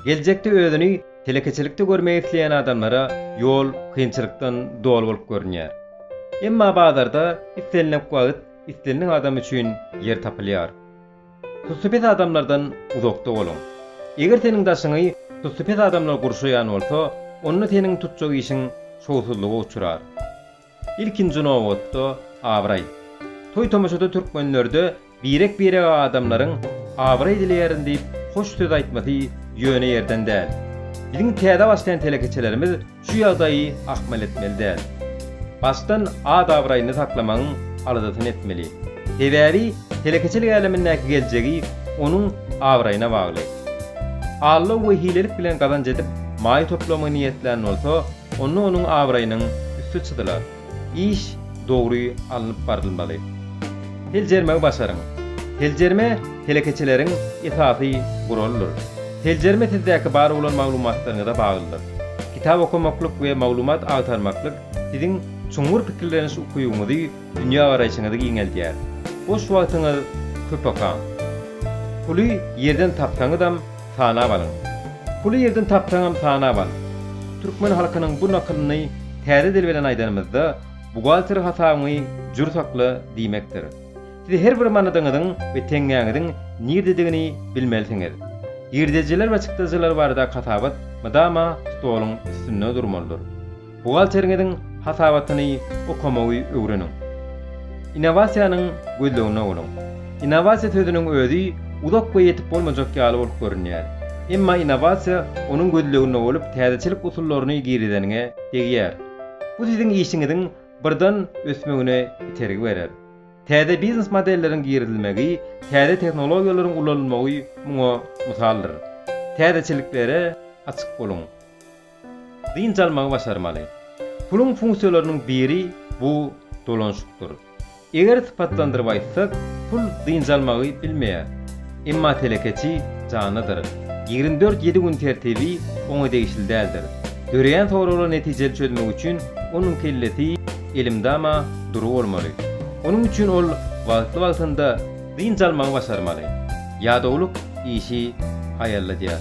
Geljekde özüni telekeçilikde görmek isleýän adamlara ýol kynçylykdan doly bolup görünýär. Emma bazarda islenilek wagt islenilek adam üçin ýer tapylýar. Tussy pes adamlardan uzakda boluň. Eger seniň daşyňy tussy pes adamlar gurşaýan bolsa, onda seniň tutjak işiň şowsuzlyga uçrar. Ilkinji nobatda, abraý. Toý-tomaşada türkmenlerde birek-birege adamlaryň Abraý dileýärin diýip hoş söz aýtmasy ýöne ýerden däl. Biziň täze başlaýan telekeçilerimiz şu ýagdaýy ahmal etmeli däl. Başdan at-abraýyny saklamagyň aladasyny etmeli. Sebäbi telekeçilik älemindäki geljegi onuň abraýyna bagly. Allaw we hilelik bilen gazanç edip maý toplamagy niýetlän bolsa, onda onuň abraýynyň üsti çyzylar. iş dogry alnyp barylmaly. Seljermegi başaryň. Seljerme telekeçileriň esasy guralydyr. Seljerme sizdäki bar bolan maglumatlaryňyza baglydyr. Kitap okamaklyk we maglumat agtarmaklyk siziň çuňňur pikirleniş ukybyňyzy, dünýägaraýşyňyzy giňeldýär. Boş wagtyňyz köpakaň. Puly ýerden tapsaňyzam, Sanap alyň. Puly ýerden tapsaňam sanap al. Türkmen halkynyň bu nakylyny täze dil bilen aýdanymyzda, buhgalter hasabyňy jür sakla diýmekdir. Siz her bir manadyňyzyň we teňňäňiziň nirdedigini bilmelisiňiz. Girdejiler we çykdajylar baradaky hasabat mydama stoluň üstünde durmalydyr. Buhgalteriňiziň hasabatyny okamagy öwreniň. Innowasiýanyň gözleginde boluň. Innowasiýa sözüniň özi uzak we ýetip bolmajak ýaly bolup görünýär. Emma innowasiýa onuň gözleginde bolup täzeçilik usullaryny girizeniňe degýär. Bu siziň işiňiziň birdan ösmegine itergi berer. Täze biznes modelleriň girizilmegi, täze tehnologiýalaryň ulanylmagy muňa mysaldyr. Täzeçiliklere açyk boluň. Dynç almagy başarmaly. Puluň funksiýalarynyň biri bu dolanyşykdyr. Eger sypatlandyryp aýtsak, pul dynç almagy bilmeýär. Emma telekeçi janlydyr. Ýigrimi dört ýedi gün tertibi oňa degişli däldir. Döreýän soraglar netijeli çözmek üçin onuň kellesi elmdama dury bolmaly. Onuň üçin ol wagtly-wagtynda dynç almagy başarmaly. Ýadawlyk işi haýalladýar.